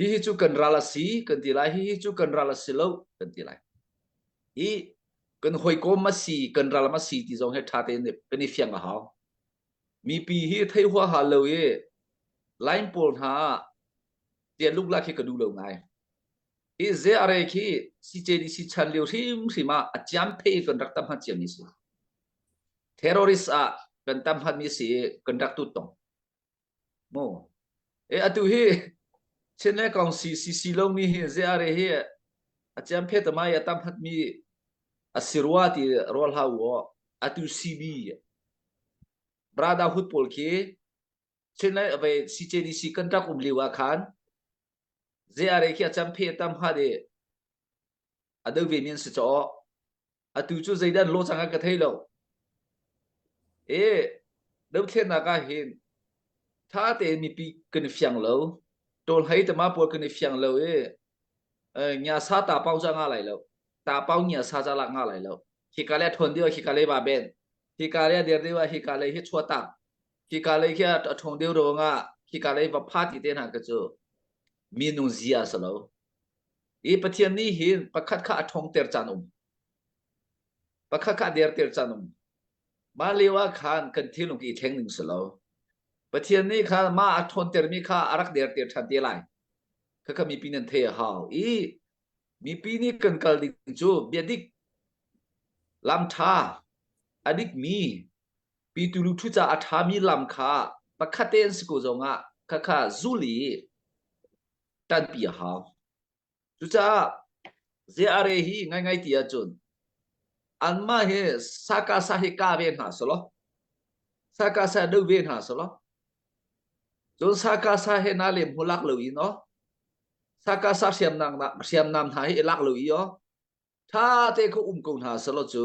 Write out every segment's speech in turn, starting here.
hihi cu kan ral a si kan ti lai hihi cu kan ral a si lo kan ti lai i kan hawikom a si kan ram a si ti zong he ṭha tein kan i fiang a hau mipi hi thei hua ha lo i line pawl hna tia luk lak khi ka duh lo ngai hi ze are khi CJDC chan lio hrim hrim ah a ciam the kan rak tam ha ciam mi si terrorist ah kan tam hat mi si kan rak tut tong Maw. E atu hi Chin le Kong CCC lomi hi zeare hi a ciam phe tamai a tam hatmi a si rua ti rual hau o atu CB Brada hut pawl khi Chin le ve CJDC kan rak um liu ah khan zeare khi a cam phe tam ha de a do ve min si chaw atu cu zeidah lo chang ah ka thei lo e dothlennak ah hin tha tein mipi kan i fiang lo tawlhei tama pual kan i fiang lo e nya sa ta pau cha nga lai lo ta pau nya sa cha lak nga lai lo hi ka le thon dio hi ka le ba ben hi ka le der dewa hi ka le hi chua tak hi ka le kia a thong deu ro nga hi ka le va pha ti te na ka chu mi nung zia sa lo I Pathian nih hin pakhat kha a ṭhawngter caan um. Pakhat kha a derter caan um. Mah lio ah khan kan thinlung i thleng ning si lo. Pathian nih khan ma a ṭhawntermi kha a rak derter ṭhan te lai. Khakha mipi nan thei a hau. I mipi nih kan kal ding cu biadik, lamṭha, a dikmi, pitulu ṭhu ca a ṭhami lam kha pakhat te an si ko zongah khakha zul i ṭanpi a hau. Cucaah zeare hi ngaingai ti ahcun anmah hi saka sa hi ka ve hna selaw saka sa do ve hna selaw cun saka sa he na lem hu lak lo in o saka sa hriamnam hriamnam hna hi i lak lo i o ṭha te kho um ko hna selaw cu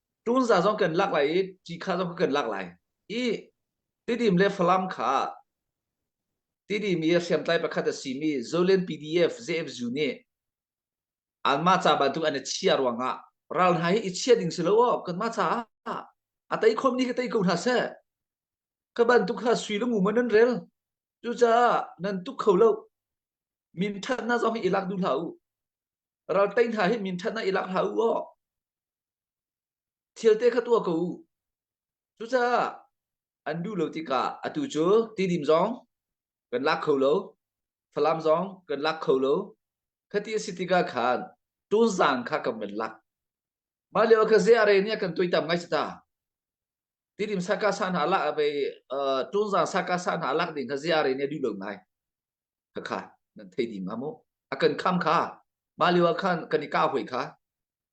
Tunza zong kan lak lai i cikha zong kan lak lai i tidim le Falam kha tidim i hriamtlai pakhat a simi Zolen PDF ZFZU nih anmah ca bantuk an i chiah ruangah ral hna hi i chiah ding si lo aw kanmah caah a tei khawmmi ka tei ko hna seh ka bantuk kha sui le ngu ma nan rel cucaah nan tuk kho lo minṭhat hna zong hi i lak duh hlah u ral tei hna hi minṭhat hna i lak hlah u aw Thilte kha tuah ko u. Cucaah an duh lo tikah atu cu tidim zong kan lak kho lo, Falam zong kan lak kho lo. Khati a si tikah khan tuzang kha kan van lak. Mah lio kha ze are nih kan tuitam ngai ta. Tidim saka sa hna lak ve tuzang saka sa hna lak ding kha ze are nih duh lo ngai. Khakha nan thei dim ha mu. A kan kham kha. Mah lio ah khan kan i ka hoi kha.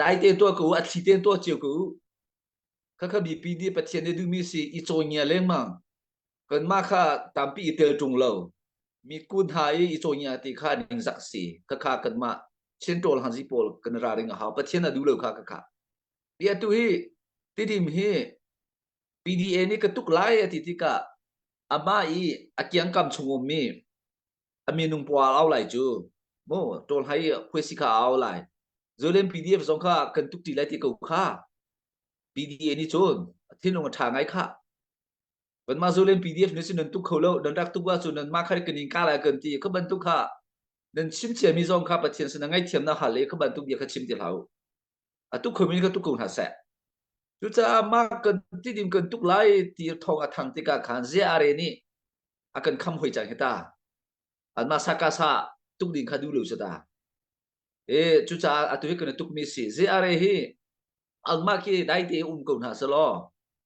dai te tua ko a thli te tua chiu ko kha kha bipi di pathian ne duhmi si i chawi ngia leng ma kan ma kha tampi i tel tung lo mi kun ha i i chawi ngia ti kha ning zak si kha kha kan ma chen tol han zi pol kan ra ring ha pathian a du lo kha kha kha bia tu hi tidim hi PDA ni ka tuk lai ati tika ama i akiang kam chungum mi a minung pa au lai cu mo to hlai khuesi kha au lai zulem pdf zong kha kan tuk ti lai ti ko kha pda ni cun thinung a tha ngai kha kan ma zulem pdf ni sin tuk kho lo dan rak tuk wa cu nan ma khar kanin ka lai kan ti ka bantuk kha nan sim chiami zong kha pathian sin ngai thiam na hal le ka bantuk bia kha chim ti hlau atu khom in ka tuk ko hna seh cucaah mah kan tidim kan tuk lai ti thong a thang tikah khan ziare nih a kan kham hoi cang hita anma saka sa tuk ding kha du lo sata e cucaah atu hi kan tuk mi si ziare hi angmah khi dai te um ko hna selaw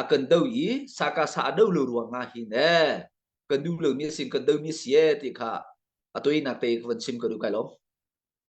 a kan do i saka sa a do lo ruangah hin e kan nu lo ni a sin kan do mi si e ti kha a toinak te ka van chim ka duh kai lo